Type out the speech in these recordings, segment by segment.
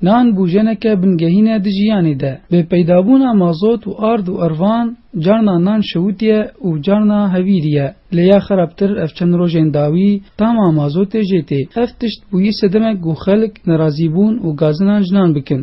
Nan bûjeneke bingehîn e di jiyanê de. Bi peydabûna mazot û ard û ervan carna nan şewitiye û carna hevîrî ye. Lê ya xerabtir ev çend rojên dawî tama mazotê jê tê. Ev tişt bûyî sedemek ku xelk nerazî bûn û gazinan ji nan bikin.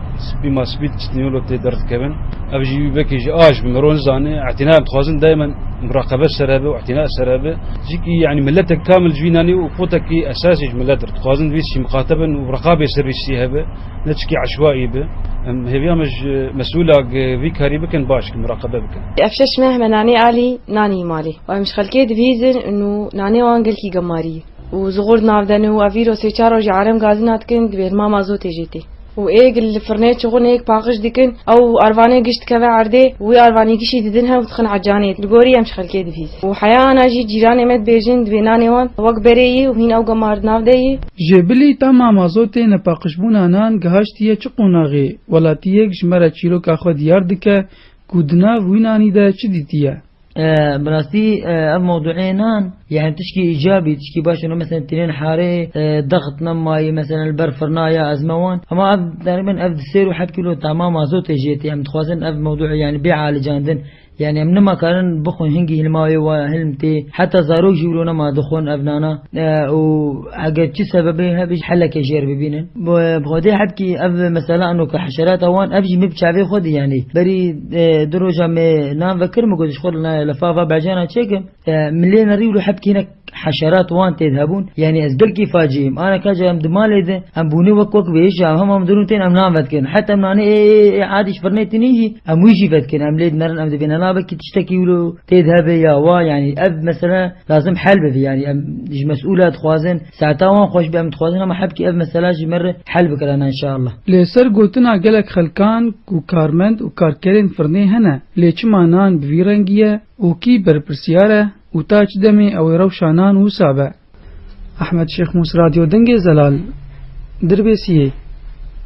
Spî ma spî çitnîyolo tê derdikevin. Ev jî wî vekî ji a ji bi miron zanê. Etîna em dixwazin daimen muraqebe ser hebe û etîna ser hebe. Cîkî yanî miletek kamil ji wî nanî û potekî esasî ji milet ir. Dixwazin vîst jî miqatebin û reqabê ser vîstî hebe. Ne çikî eşwaî be. Em hêviya me ji mesûla ge vî karî bikin baş ke muraqebe bikin. Ev şeş meh me nanê alî nanî malê û em ji xelkê dibihîzin û nanê wan gelkî gemarî û zixur di nav de ne û ev îro sê çar roj e erem gazîna dikin di bêrma ma zotê jê tê. û êg li firnê çixûn êg paqij dikin ew arvanê giş dikeve erdê û wî arvanî gişî didin hev dixin ecanê li gorî em ji xelkê dibîst û heya ana jî cîranê me dibêjin divê nanê wan wek berê yî û hîn ew gemar di nav de yî. Ji bilî tama mazotê nepaqijbûna nan gihaştiye çi qonaxê, welatiyêk ji me re çîroka xwe diyar dike ku di nav wî nanî de çi dîtiye. Bi rastî ev mewduê nan yani tişkî îcabî tişkî baş û mesela tînên harê dexitna mayî mesela li ber firna ya ez me wan hema ev deribin ev di sêr û heb kîlo tama mazotê jê tê em dixwazin ev mewduê yani bêalicandin yani em nimakarin bixwin hingî hilmawê wa ya hilm tê heta zarok jî wilo nema dixwin ev nana û eger çi sebebê hebê jî helekê jê re bibînin bi xwedê hebkî ev mesela eno ke heşerata wan ev jî mif çavê xwedî yani berî Di roja me nan vekir min got ji xwe li nayê li fava bejana çêkim min lê nerî û li heb kînek heşerat wan tê de hebûn yanî ez belkî facîyim ana ka ji em di malê de em bûne wek wek vêjî em hema min dirûn tên em nan vedikin heta em nanê ê ê ê adî ji firnê tînî jî em wî jî vedikin em lê dimerin em divê nana vekî tiştekî wilo tê de hebe ya wa yanî ev mesele lazim hel bibe yanî em ji mesûla dixwazin Saeta wan xweş be em dixwazin hema hebkê ev mesela ji me re hel bikirin enşallah. Li ser gotina gelek xelkan ku karmend û karkerên firnê hene lê çima nan bi vî rengî ye û kî berpirsiyar e û ta çi demê ew ê rewşa nan wisa be? Ahmed Şêxmûs Radyo Dingê Zelal, Dirbêsiyê.